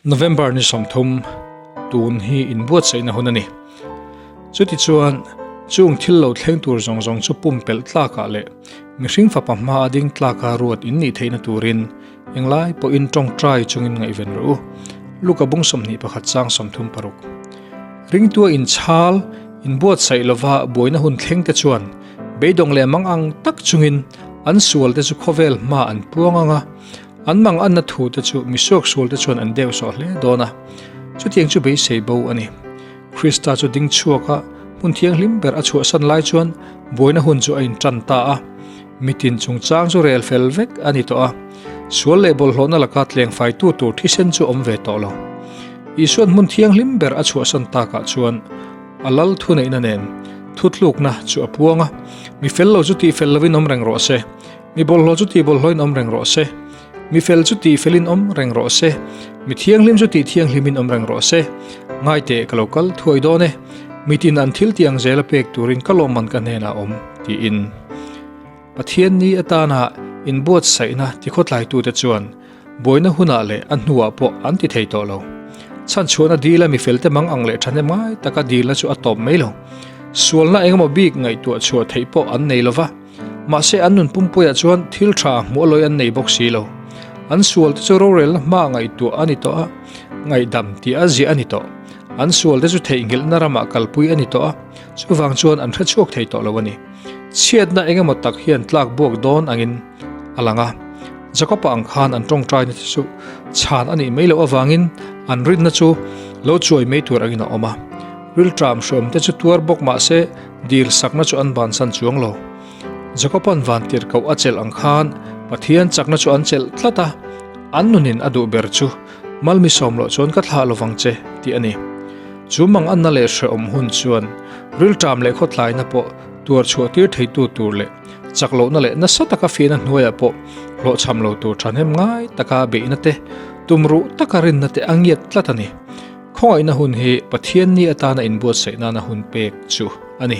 November ni sawm thum tun hi inbuatsaihna hun a ni. Chuti chuan chung thil lo thleng tur zawng zawng chu pumpelh tlakah leh mihring fapa hmaa ding tlaka ruat innih theihna turin englai pawhin tawngtai chungin ngaihven rawh u. Luka bung sawmhnih pakhat chang sawm thum paruk. Ringtuain inchhal inbuatsaih lova buaina hun thleng te chuan beidawng leh mangang tak chungin an sual te chu khawvel hmaa an puang ang a, An mang anna thu te chu misuak sual te chuan an deu sawh hle dawn a, chutiang chu beisei bo a ni. Krista chu ding chhuak a hmun thianghlim ber a chhuahsan lai chuan buaina hun chu a intan ta a, mitin chungchang chu rel fel vek a ni tawh a, sual leh bawlhhlawhna laka tlengfaitu tur thisen chu awm ve tawh lo. Isuan hmun thianghlim ber a chhuahsan takah chuan a lal thuneihna nen thutlukna chu a puang a, mi fel lo chu tih fel lovin awm reng rawh se, Mi bawlhhlawh chu tihbawlhhlawhin awm reng rawh se. Mi fel chu tihfelin awm reng rawh se. Mi thianghlim chu tihthianghlimin awm reng rawh se. Ngaite ka lo kal thuai dawn e. Mitin an thil tih ang zel a pek turin ka lawmman ka hnenah awm, tiin. Pathian ni atanah inbuatsaihna tikhawtlaitute chuan buaina hunah leh a hnuah pawh an ti thei tawh lo. Chhanchhuahna dila mi felte mang ang leh than em ngai taka dilna chu a tawp mai lo. Sualna engemaw bik ngaihtuah chhuah theih pawh an nei lo va. Mahse, an nunpumpuia chuan thil tha hmualawi an nei bawk si lo. An sual te chu rorelna hmaa ngaihtuah a ni tawh a, ngaihdam tih a ziah a ni tawh. An sual te chu theihnghilhna ramah kalpui a ni tawh a, chuvang chuan an hre chhuak thei tawh lo a ni. Chhiatna eng emaw tak hian tlak buak dawn angin a lang a. Jakopa ang khan an tawngtaina te chu chhan a nih mai loh avangin an rinna chu lo chuai mai tur angin a awm a. Rilṭam hrawm te chu tuar bawk mahse, Dil sakna chu an bansan chuang lo. Jakopa'n van tir koh a chelh ang khan Pathian chakna chu an chelh tlat a, an nunin a duh ber chu Malmi sawm loh chuan ka thlah lovang che tih a ni. Chu manganna leh hrehawm hun chuan rilṭam leh khawtlaina pawh tuar chhuahtir theitu tur leh chak lohna leh nasa taka fiahna hnuaiah pawh hlawhchham lo tur ṭhahnem ngai taka beihna te, tumruh taka rinna te a ngiat tlat a ni. Khawngaihna hun hi Pathianni atana inbuatsaih nana hun pek chu a ni.